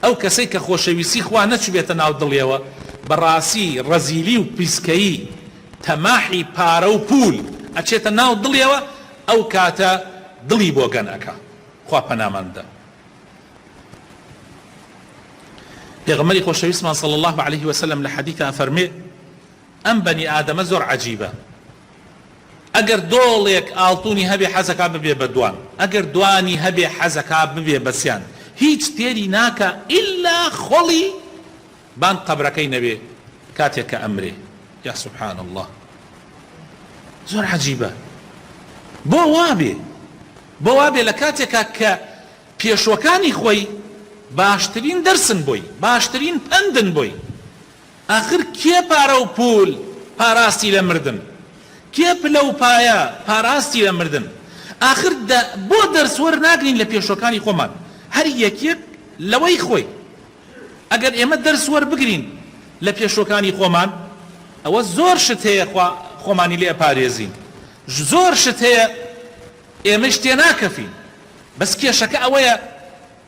ئەو کەسەی کە خۆشەویستی خوا نەچوبێتە ناو دڵیەوە بەڕاسی ڕەزیلی و پیسکەیی تەماحی پارە و پول ئەچێتە ناو دڵیەوە ئەو کاتە دڵی بۆگەن ئەکا خوا پەنامان بدە پێغەمبەری خۆشەویستمان صلی اللە علیه وسلم لە حەدیث ئەفەرمێ ئەم بەنی ئادەمە زۆر عەجیبە ئەگەر دۆڵێک ئاڵتونی هەبێ حەزەکا ببێ بە دوان ئەگەر دوانی هەبێ حەزەکا ببێ بە سیان هیچ تێری ناکا ئیلا خۆڵی بان قەبرەکەی نەبێ کاتێک کە ئەمرێ یا سبحان اللە زۆر عەجیبە بۆ وابێ بۆ وابێ لە کاتێکا کە پێشوەکانی خۆی باشترین دەرسن بۆی باشترین پەندن بۆی ئاخر کێ پارە و پوول پاراستی لە مردن؟ کێ پلە و پایە پاراستی لە مردن؟ ئاخر دە بۆ دەرس وەرناگرین لە پێشوەکانی خۆمان؟ هەر یەکیەک لەوەی خۆی. ئەگەر ئێمە دەرس وەربگرین لە پێشوەکانی خۆمان ئەوە زۆر شت هەیە خوا خۆمانی لێ ئەپارێزین. زۆر شت هەیە ئێمەیش تێناکەفین. بەس کێشەکە ئەوەیە.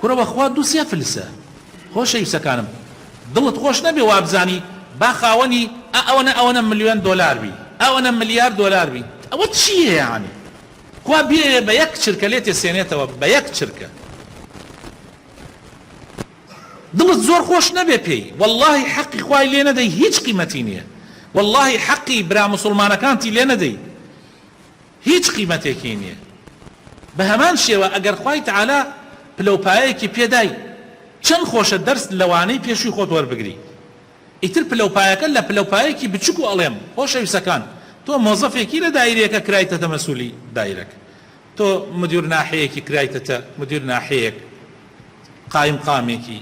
کورە وەخوا دوو سێ فلسە. خۆشەویستەکانم دڵت خۆش نەبێ وابزانی با خاوەنی ئا ئەوەنە ئەوەنە ملیۆن دۆلار بی ئەوەنە ملیار دۆلار بی ئەوە چیە یەعنی کوا بیەوێ بە یەک چرکە لێتێ سێنێتەوە بە یەک چرکە دڵت زۆر خۆش نەبێ پێی واللەهی حەقی خوای لێ نەدەی هیچ قیمەتی نیە واللەهی حەقی برا مسوڵمانەکانتی لێ نەدەی هیچ قیمەتێکی نیە بەهەمان شێوە ئەگەر خوای تەعالا پلەوپایەکی پێدای چەن خۆشە دەرس لەوانەی پێشوی خۆت وەربگری ئیتر پلەوپایەکە لە پلەوپایەکی بچوک و ئەڵێم خۆشەویسەکان تۆ مۆزەفێکی لە دایرەیەکە کرایتەتە مەسولی دایرەک تۆ مدیر ناحیەیەکی کرایتەتە مدیر ناحیەیەک قایم قامێکی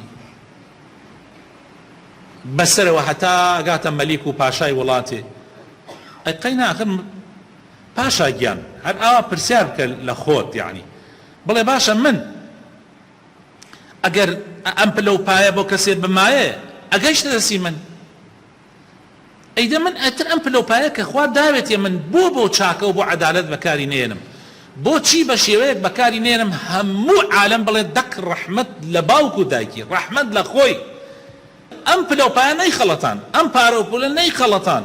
بەسەرەوە هەتا گاتە مەلیک و پاشای وڵاتێ ئەی قەینا ئەخر پاشا گیان هەر ئاوا پرسیار بکە لە خۆت یەعنی بڵێ باشە من ئەگەر ئەم پلە و پایە بۆ کەسێ بمایە ئەگەیشتە دەستی من ئەیدە من ئەتر ئەم پلە و پایە کە خوا داوێتێ من بۆ بۆ چاکە و بۆ عەدالەت بەکاری نێنم بۆچی بە شێوەیەک بەکاری نێنم هەموو عالەم بڵێ دەک ڕەحمەت لە باوک و دایکی ڕەحمەت لە خۆی ئەم پلە و پایە نەیخەڵەتان ئەم پارە و پولە نەیخەڵەتان